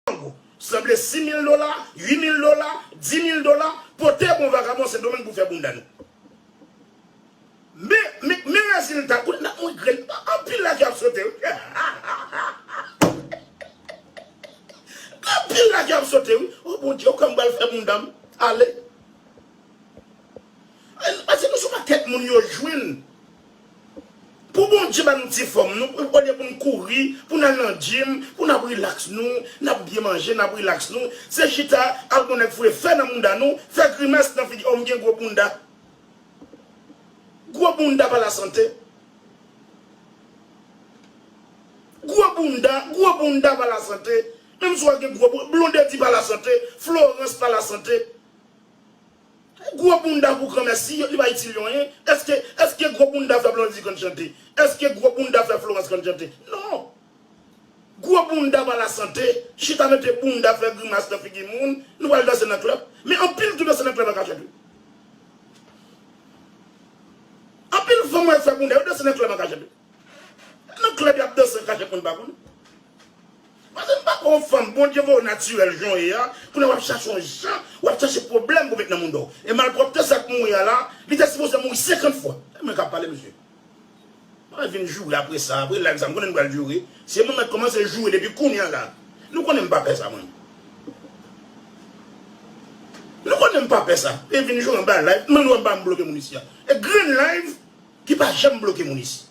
Mango. Sanble 6 mil dola, 8 mil dola, 10 mil dola, pote bon vagabon Sendomeng pou fè bounda nou. Men rezilta, koulye nap mouri grenn, anpil la ki ap sote wi. Anpil la ki ap sote wi. O Bondye, ou kwè m pral fè bounda m? Ale. An nou pa di nou sou pakèt moun yo jwenn. Pou Bondye ba nou ti fòm nou, olye pou n kouri, pou n al nan gym, pou n ap rilaks nou, n ap byen manje, n ap rilaks nou, se chita al bon nèg foure fè nan bounda nou, fè grimès nan figi, oh m gen gwo bounda. Gwo bounda pa lasante. Gwo bounda, gwo bounda pa lasante. Menm si w a gen gwo bounda, Blondedy pa lasante, Florence pa lasante. Gwo bounda pou granmè si li pa itil yo anyen eske eske gwo bounda fè blondy konn chante eske gwo bounda fè florence konn chante non gwo bounda pa la sante chita mete bounda fè grimas nan figi moun nou pral danse nan club men anpil ki danse nan club an ka chante anpil fanm wè fè bounda yo danse nan club an ka chante. Nan club yap danse an kachèt moun pa konnen. Pase m pako yon fanm Bondye voye w natirèl jan w ye a, kounye a wap chache yon jan, wap chache pwoblèm pou w met nan mouda w. E malpwòpte sa k mouri a la, li te sipoze mouri 50 fwa. E mwen kap pale mesye. Mwen vin joure apre sa, apre live sa m konnen n pral joure, se mwen mèt kòmanse joure depi kounye a la. Nou konnen m pa pè sa mwen. Nou konnen m pa pè sa. E vin joure anba live, m annou anba m bloke moun isi a. E grenn live. Ki pa janm bloke moun isi.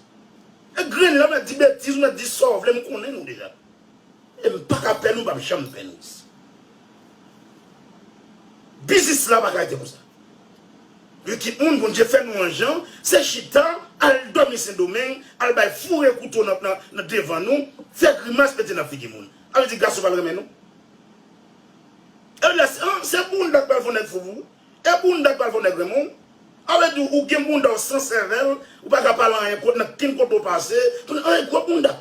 E grenn la nan di betiz ou nan di sa w vle m konnen nou deja. E m pa ka pè nou m pap janm pè nou isi. Biznis la pa ka rete konsa. Gen kit moun Bondye fè nou an jan se chita al dòmi sendomeng al bay foure kouto nan devan nou fè grimas mete nan figi moun. A vle di gason pa renmen nou. E w di la se bounda k pral fon nèg fou pou ou. E bounda ki pral fè w nèg renmen w? Ale di ou gen bounda w san sèvèl, ou pa ka pale anyen kot nan ken kote w pase, kounye an e gwo bounda.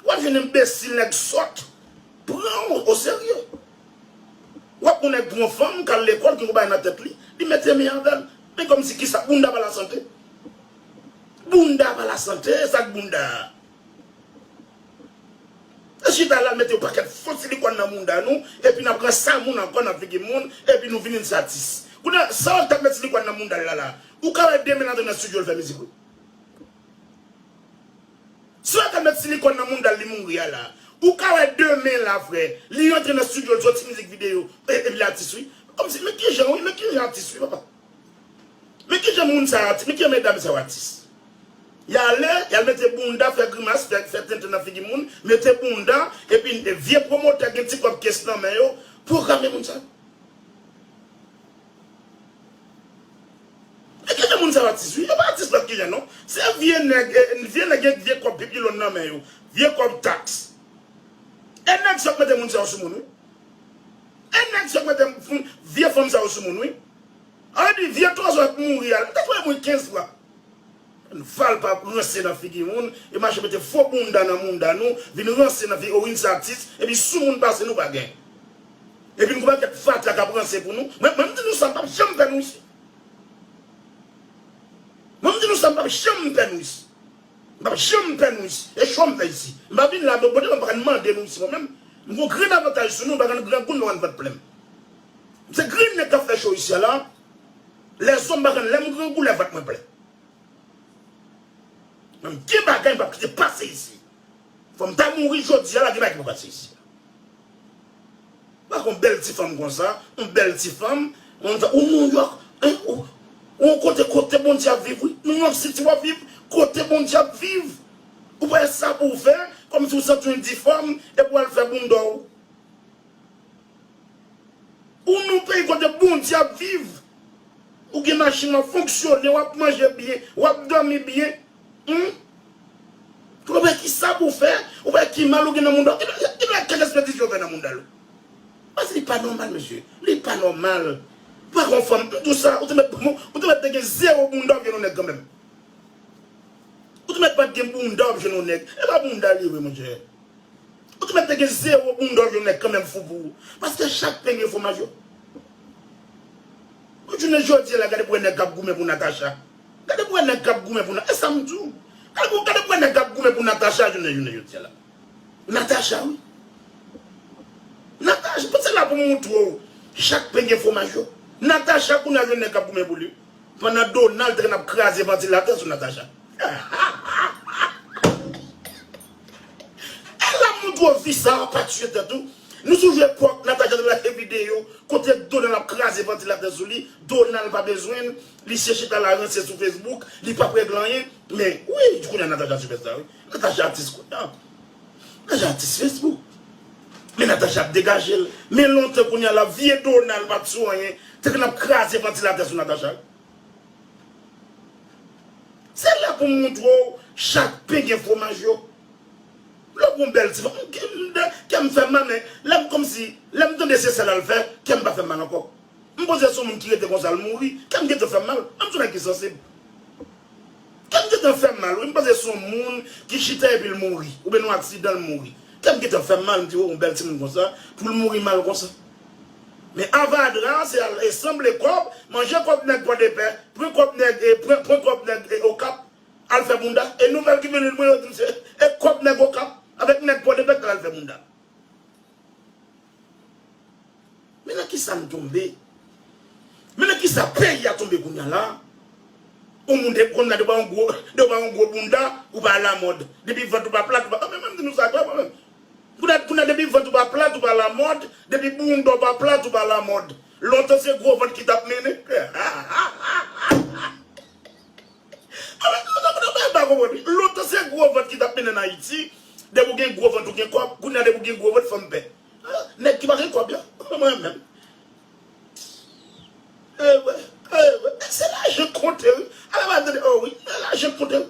Ou ap vin enbesil nèg sòt pran w o serye. Ou ap gou nèg pran fanm kal lekòl gen yon bagay nan tèt li, li mete men avè l. Men kòmsi kisa bounda pa lasante? Bounda pa lasante, e sa k bounda a? Nap chita la mete yon pakèt fo silikòn nan mounda nou epi nap pran san moun ankò nan figi moun epi nou vini dis atis. Kounye a sa wap tap met silikòn nan moundal la la ou ka wè demen l antre nan studio l fè mizik wi. Si wap tap met silikòn nan moundal li mouri a la ou ka wè demen la frè li rantre nan studio l soti mizik videyo epi l atis wi. Kòmsi men kijan wi men kijan atis wi papa. Men kijan moun sa yo men kijan medam sa yo atis yale yal mete bounda fè grimas fè tenten nan figi moun mete bounda epi vye pwomotè gen ti kòb kes nan men yo pwograme moun sa yo men kijan moun sa yo atis wi yo pa atis lòt kijan non se vye nèg vye nèg gen vye kòb pipilon nan men yo vye kòb taks e nèg sa yo k mete moun sa yo sou moun wi. Anh nèg zòt mwen tem knfond vye fanm sa yo sou moun wi Anh epi vye twazò ap mouri al mta voye mwen 15 fwa Anh valpa ap ranse nan figi moun e mache mete fo bounda nan mounda nou vin ranse nan figi owin sa atis epi sou moun pase nou pa gen epi nou konn ap kèk fatra kap ranse pou nou mwen mdi nou sa mpap janm fè nou isi mwen mdi nou sa mpap janm fè nou isi. M pap janm pè nou isi. E chwa m fè isi. M pa vin la mwen pote m pa ka n mande nou isi mwen menm. M gon grenn avantaj sou nou m pa ka n grangou n pa ka n vant plen m. M se grenn nèg k ap fè show isi a la. Lèzò m pa ka n lè m grangou lè vant mwen plen. Men gen bagay m pap kite pase isi. Fò m ta mouri jodi a la gen bagay ki pa pase isi. Pa kon bèl ti fanm konsa, yon bèl ti fanm, moun fè ou Nouyòk, ou kote kote Bondye ap viv wi, Nouyòk siti wap viv, kote Bondye ap viv, ou pa gen sa pouw fè, kòmsi ou santiw difòm epi wal fè boundaw. Ou nan peyi kote Bondye ap viv, ou gen machin wap fonksyone, wap manje byen, wap dòmi byen. Humm konnen bay kisa pou fè ou bay ki mal ou gen nan mounda ou ki bay kèk espètis yo fè nan moundal ou pase li pa nòmal mesye li pa nòmal pou ak yon fanm mtou sa ou te mèt ou te mèt te gen zero bounda ou gen yon nèg kanmèm ou te mèt pat gen bounda ou gen yon nèg e pa bounda liye vre mon chè ou te mèt te gen zero bounda ou gen yon nèg kanmèm fou pou ou paske chak pen gen fwomaj yo pou jounen jodi la gade premye nèg kap goumen pou Natacha. Gade pou wè nèg kap goumen pou na esam di w gade pou gade pou wè nèg kap goumen pou Natacha jounen jounen jodia la Natacha wi Natacha pou se la pou moutre w chak pen gen fwomaj yo Natacha kounye a gen nèg kap goumen pou li pandan Donald t konn ap kraze vantilatè sou Natacha e la moutre w fi sa pa tiye tèt ou nou sou jwe kòk Natacha t lage videyo kote Donald ap kraze vantilatè sou li Donald pa bezwen l Misye chita la ranse sou Facebook li pap regle anyen men wi kounya Natacha sipèsta wi Natacha atis kounya Natacha atis Facebook men Natacha ap degajel men lontan kounya la vye Donald pat sou anyen te konn ap kraze vantilatè sou Natacha wi se la poum moutrew chak pen gen fwomaj yo lè w gon bèl ti fanm kèm fèm mal men lèm kòmsi lèm tande se sa lal fè kèm pa fèm mal ankò. M panse se yon moun ki rete konsa l mouri, kè m gentan fè m mal, m son nèg ki sansib. Kè m gentan fè m mal wi, m panse se yon moun ki chita epi l mouri, oubyen nan yon aksidan l mouri. Kè m gentan fè m mal, m di o yon bèl timoun konsa pou l mouri mal konsa. Men avadra an se al sanble kòb, manje kòb nèg pòdepè, pran kòb nèg e pran pran kòb nèg e okap, al fè bounda. E nouvèl ki vin rive mwen yo di m se e kòb nèg okap avèk nèg pòdepè k t al fè bounda. Men nan kisa nou tonbe. Men nan kisa peyi a tonbe kounya la. Yon moun te konn la depi ou pa yon gwo bounda ou pa alamòd. Depi vant ou pa plat ou pa alamòd. Mwen menm di nou sa klè mwen menm. Kounya depi vant ou pa plat ou pa alamòd. Depi bounda ou pa plat ou pa alamòd. Lontan se gwo vant ki tap mennen. Ala gwo vant mwen pa konprann. Lontan se gwo vant ki tap mennen n ayiti, depi ou gen gwo vant ou gen kòb, kounye a depi ou gen gwo vant fanm pè. Nèg ki pa gen kòb yo, mwen menm. Ewe, ewe, se lajan k konte wi. Ala m ap tande, oh wi, lajan k konte wi.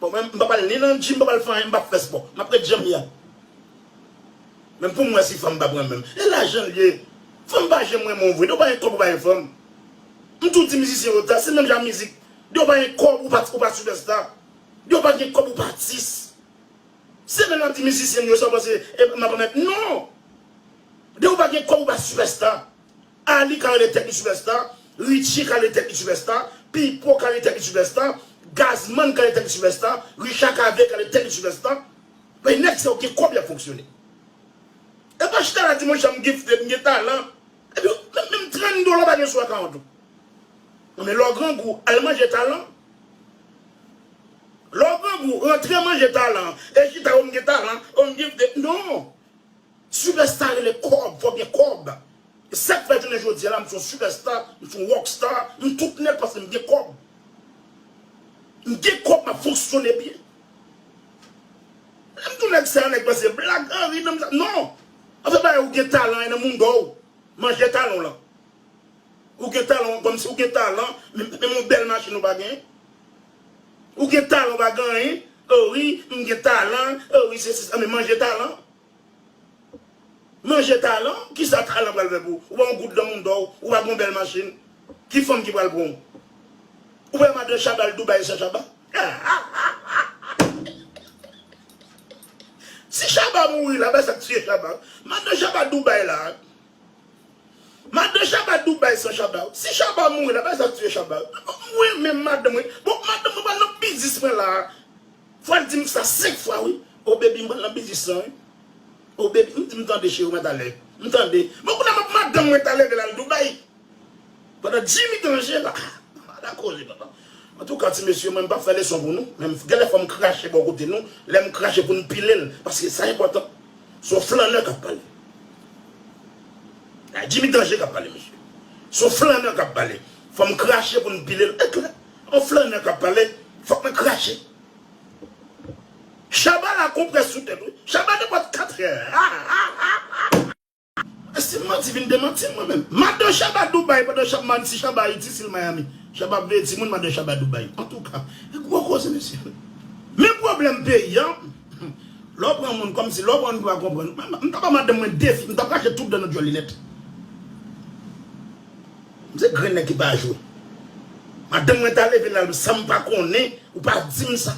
Bon mwen m pap al ni nan gym m pap al fè anyen m pap fè spò map ret janm ye a menm poum wè si fanm pa pranm menm e lajan liye fanm pa janm renmen w vre dew pa gen kòb ou pa gen fanm m tou di mizisyen yo sa se menm jan a mizik dew pa gen kòb ou pa ou pa sipèsta dew pa gen kòb ou pa atis se menm lap di mizisyen m yo sa w panse map anmèt non dew pa gen kòb ou pa sipèsta. Arly ka rele tèt li sipèsta, Richie ka rele tèt li sipèsta, Pipo ka rele tèt li sipèsta, Gazzman ka rele tèt li sipèsta, Richard Cavé ka rele tèt li sipèsta, men nèg sa yo gen kòb y ap fonksyone. Epa chita la di mwen janm gifted, m gen talan, epi menm 30 dola w pa gen sou akawont ou. Nan men lè w grangou al manje talan, lè w grangou rantre manje talan, e chita o m gen talan, o m gifted, non! Superstar rele kòb, fòk gen kòb. E sak fè jounen jodi a la m son superstar, m son rock star, m tout nèt paske m gen kòb. M gen kòb map fonksyone byen. Lèm di w nèg sa nèg pa se blag, an ri nan m sa non. Afè bagay ou gen talan e nan mundò w, manje talan w lan. Ou gen talan w kòmsi ou gen talan, menm yon bèl machin ou pa gen. Ou gen talan ou pa gen anyen, oh wi m gen talan, oh wi sesi sa, men manje talan. Manje talan, kisa talan pral fè pou ou? Ou pa yon goud nan moun dò, ou pa gen yon bèl machin, ki fanm ki pral pran w? Ou pa madan Chaba al Dubai san Chaba? Si Chaba mouri la, bay sa k tiye Chaba. Madan Chaba Dubai la. Madan Shabba Dubai san Shabba yo. Si Shabba mouri la bay sa tiye Shabba yo. Mwen menm madanm mwen. Bon madanm mwen pral nan biznis mwen la. Fwal dim sa 5 fwa wi. Oh baby m pral nan biznis lan wi. Oh baby m di m tande cheri w mwen talè. M tande. Bon kounye a map madanm mwen ta leve lal Dubai. Pandan Jimmy danje la ala koze papa. Antouka ti mesye mwen m pap fè leson pou nou men genlè fòm krache bò kote nou lèm krache poun pilel paske sa enpòtan son flanneur kap pale la Jimmy danje kap pale mesye son flanneur kap pale fòm krache poun pilel e klè on flanneur kap pale fòk mwen krache Shabba la konpres sou tèt wi Shabba nenpòt 4 è. E si m manti vin demanti m mwen menm. Madan Shaba Dubai pandan Shab Manti Shaba Ayiti sil Miami Shab ap veye timoun madan Shaba Dubai antouka e gwo koze mesye men pwoblèm peyi an lè w pran moun kòmsi lè w pran moun ki pa konprann m ta ba madanm mwen defi m ta rache tout dan nan dyòl li nèt m se grenn nèg ki pa jwe madanm mwen ta leve lal san m pa konnen ou pa di m sa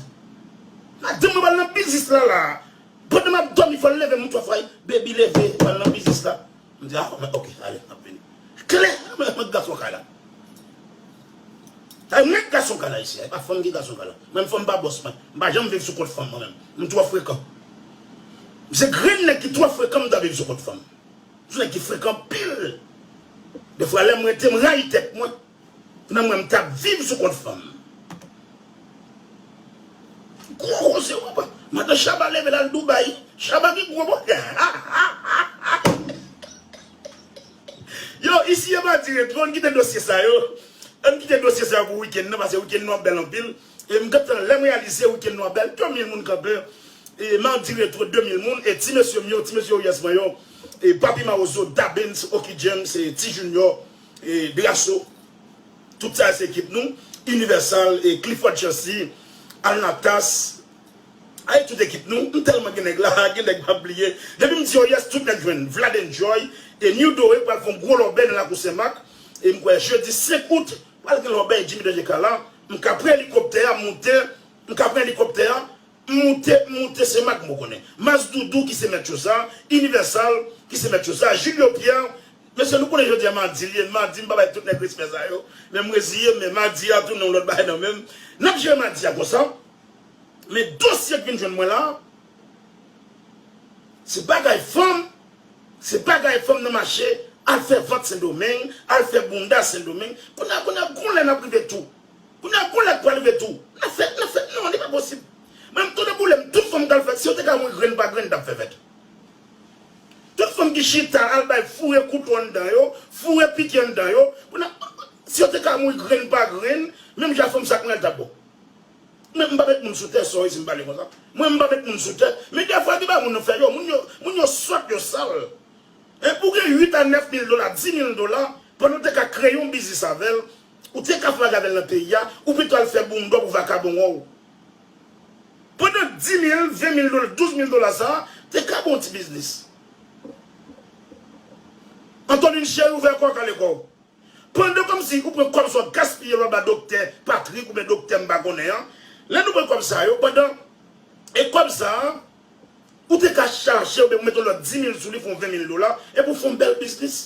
madanm mwen pral nan biznis lala. Pandan map domi fòl levem m twòf wai baby leve pral nan biznis la m di ah ok ale map vini kle mwen ak gason kay la ay mwen ak gason kay la isi a epa fanm ki gason kay la menm fanm pa bòs mwen m pa janm viv sou kont fanm mwen menm m twò frekan m se grenn nèg ki twò frekan m ta viv sou kont fanm m son nèg ki frekan anpil defwa lèm rete m rayi tèt mwen. Nan mwen m tap viv sou kont fanm. Gwo koze wi bwa. Madan Shaba leve lal Dubai. Shaba gen gwo bwa. Yo isi epa dire tro an kite dosye sa yo. An kite dosye sa yo pou weekend nan pase weekend nou ap bel anpil. E m gen tan lem reyalize weekend nou ap bel 2000 moun kanpe. E ma dire tro 2000 moun. E ti mesye m yo ti mesye oyes mwen yo. E papi mawozo, Dabens, Oky James, Ti Junior. Grasso tout sa yo se ekip nou Universal e Clifford Chancy Alnatas Ayy tout ekip nou m tèlman gen nèg la gen nèg map bliye depi m di yo yes tout nèg jwenn Vladenjoy e New Dore pral fon gwo lòbèy nan lakou Senmak e m kwè jedi 5 out pral gen lòbèy Jimmy Danger Kalan m ka pran elikoptè a moute m ka pran elikoptè a M moute, m moute, se Mack m konnen. Mas Doudou ki se mèt cho sa, Universal ki se mèt cho sa, Julio Pierre, mesye nou konnen jodi a madi l ye, madi m pa bay tout nèg respè sa yo, men m reziye m, men madi a tounen yon lòt bagay nan men m. N ap jere madi a konsa, men dosye k vin jwenn mwen la, se bagay fanm, se bagay fanm nan mache al fè vant Sendomeng, al fè bounda Sendomeng, kounye a, kounye a, gon lè n ap rive tou. Kounya kolèt pral rive tou. Nap fèt nap fèt non li pa posib menm tonnè boulem tout fanm kal fèt si yo te ka mouri grenn pa grenn tap fè fèt tout fanm ki chita al bay foure kouto anndan yo foure pike anndan yo kounya si yo te ka mouri grenn pa grenn menm jan fanm sa kounya li tap bon men mpa met moun sou tè sorry sim pale konsa mwen mpa met moun sou tè men dèfwa depa moun nan fè yo moun yo moun yo sòt yo sal hein pou gen 8 a 9 mil dola 10 mil dola pandan ou te ka kreye yon biznis avèl Ou te ka fwa gadel nan peyi a, ou pito al fè boumdò pou vakabon wè w. Pandan 10 mil, 20 mil dola, 12 mil dola sa a, te ka bon ti biznis. Antolin cheri ouvè kò w kale kò w. Pandan kòmsi ou pran kòb sa w gaspiye l wap ba doktè Patrick oubyen doktè m pa konnen an, lè nou pran kòb sa yo pandan e kòb sa a. Ou te ka chaje oubyen pou mete yon lòt dimil sou li fè yon venmil dola epi ou fè yon bèl biznis.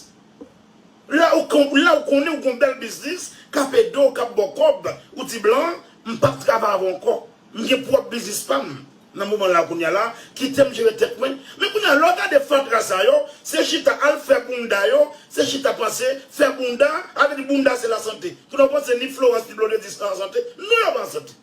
La ou konnen ou gen yon bèl biznis k ap ede w, k ap ba w kòb, ou di blan an, m pap travay avè w ankò. M gen pwòp biznis pa m nan moman la kounye a la, kite m jere tèt mwen. Men kounye a lè w gade fatra sa yo, se chita al fè bounda yo, se chita panse fè bounda, sa vle di bounda se lasante. Kounye a ou panse ni Florence ni Blondedy an sante? Non yo pa an sante.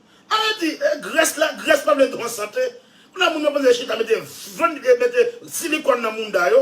Ala di grès la grès pa vle pran sante. Kounye a moun yo poze chita mete vant mete silikòn nan mouda yo.